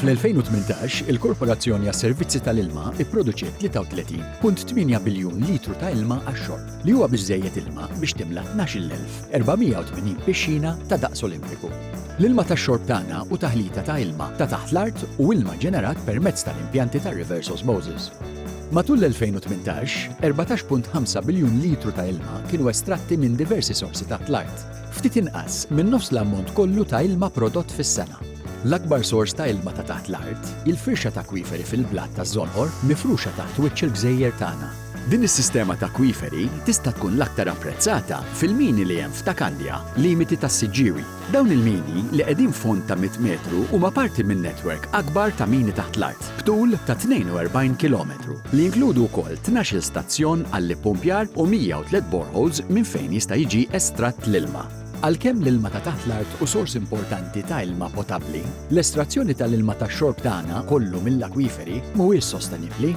Fl-2018, il-Korporazzjoni għas-Servizzi tal-Ilma pproduċiet 33.8 biljun litru ta' ilma għax-xorb, li huwa biżżejjed ilma biex timla 12,480 pixxina ta' daqs Olimpiku. L-ilma tax-xorb tagħna hu taħlita ta' ilma ta' taħt l-art u ilma ġenerat permezz tal-impjanti ta' reverse osmosis. Matul l-2018, 14.5 biljun litru ta' ilma kienu estratti minn diversi sorsi taħt l-art, Ftit inqas minn nofs l-ammont kollu ta' ilma prodott fis-sena. L-akbar sors ta' ilma ta' taħt l-art hi l-firxa ta' akwiferi fil-blat taż-Żonqor mifruxa taħt wiċċ il-gżejjer tagħna. Din is-sistema ta' akwiferi tista' tkun l-aktar apprezzata fil-mini li hemm f'Takandja, limiti tas-Siġġiewi. Dawn il-mini, li qegħdin f'fond ta' mitt metru, huma parti minn netwerk akbar ta' mini taħt l-art. b'tul ta' 42 kilometru, li jinkludu wkoll tnax-il stazzjon għall-ippumpjar u 103 boreholes minn fejn jista' jiġi estratt l-ilma. Għalkemm l-ilma ta' taħt l-art hu sors importanti ta' ilma potabbli, l-estrazzjoni tal-ilma tax-xorb tagħna kollu mill-akwiferi mhuwiex sostenibbli.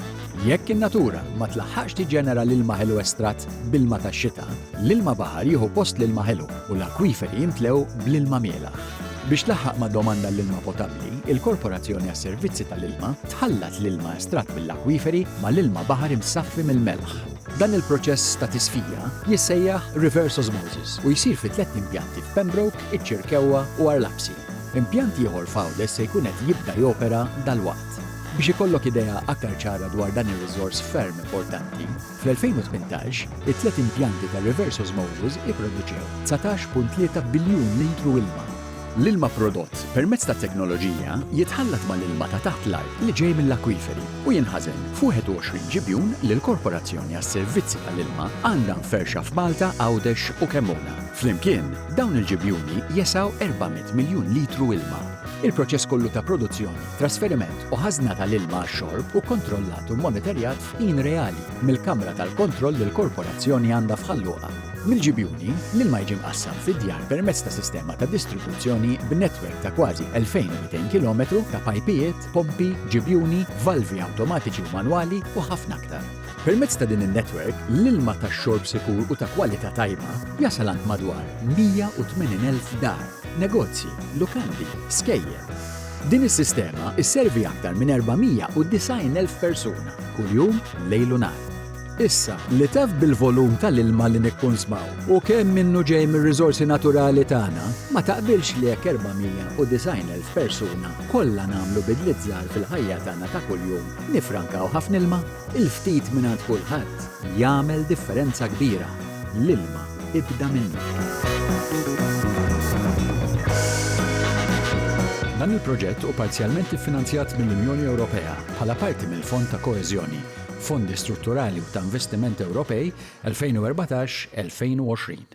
Jekk in-natura ma tlaħħaqx tiġġenera l-ilma ħelu estratt b'ilma tax-xita, l-ilma baħar jieħu post l-ilma ħelu u l-akwiferi jimtlew bl-ilma mielaħ. Biex tlaħħaq mad-domanda għall-ilma potabbli, il-Korporazzjoni għas-Servizzi tal-Ilma tħallat l-ilma estratt mill-akwiferi mal-ilma baħar imsaffi mill-melħ. Dan il-proċess ta' tisfija jissejjaħ reverse osmosis u jsir fi tliet impjanti f'Pembroke, iċ-Ċirkewwa u Għar Lapsi. Impjant ieħor f'Għawdex se jkun qed jibda jopera dalwaqt. Biex ikollok idea aktar ċara dwar dan ir-riżors ferm importanti, Fl-2018, it-tliet impjanti ta' reverse osmosis ipproduċew 19.3 biljun litru ilma. L-ilma prodott permezz tat-teknoloġija jitħallat mal-ilma ta' taħt l-art li ġej mill-akwiferi u jinħażen f'21 ġibjun li l-Korporazzjoni għas-Servizzi tal-Ilma għandha mferrxa f'Malta, Għawdex u Cremona. Flimkien, dawn il-ġibjuni jesgħu 400 miljun litru ilma. Il-proċess kollu ta' produzzjoni, trasferiment u ħażna tal-ilma għax-xorb hu kkontrollat u mmonitorjat Ħin reali, mill-kamra tal-kontroll li l-korporazzjoni għandha f'Ħal-Luqa. Mill-ġibjuni, l-ilma jiġi mqassam fid-djar permezz ta' sistema ta' distribuzzjoni b'netwerk ta' kważi 2,200 kilometru ta' pajpijiet, pompi, ġibjuni, valvi awtomatiċi u manwali u ħafna aktar. Permezz ta' din in-netwerk, l-ilma tax-xorb sikur u ta' kwalità tajba jasal għand madwar 180,000 dar. negozji, lukandi, skejjel. Din is-sistema sservi aktar minn 490,000 persuna kuljum lejl u nhar. Issa li taf bil-volum tal-ilma li nikkunsmaw u kemm minnu ġej mir-riżorsi naturali tagħna, ma taqbilx li hekk 490,000 persuna kollha nagħmlu bidliet żgħar fil-ħajja tagħna ta' kuljum niffrankaw ħafna ilma? Il-ftit mingħand kulħadd jagħmel differenza kbira. L-ilma. Ibda minnek. Dan il-proġett hu parzjalment iffinanzjat mill-Unjoni Ewropea bħala parti mill-Fond ta' Koeżjoni, Fondi Strutturali u ta' Investiment Ewropej 2014-2020.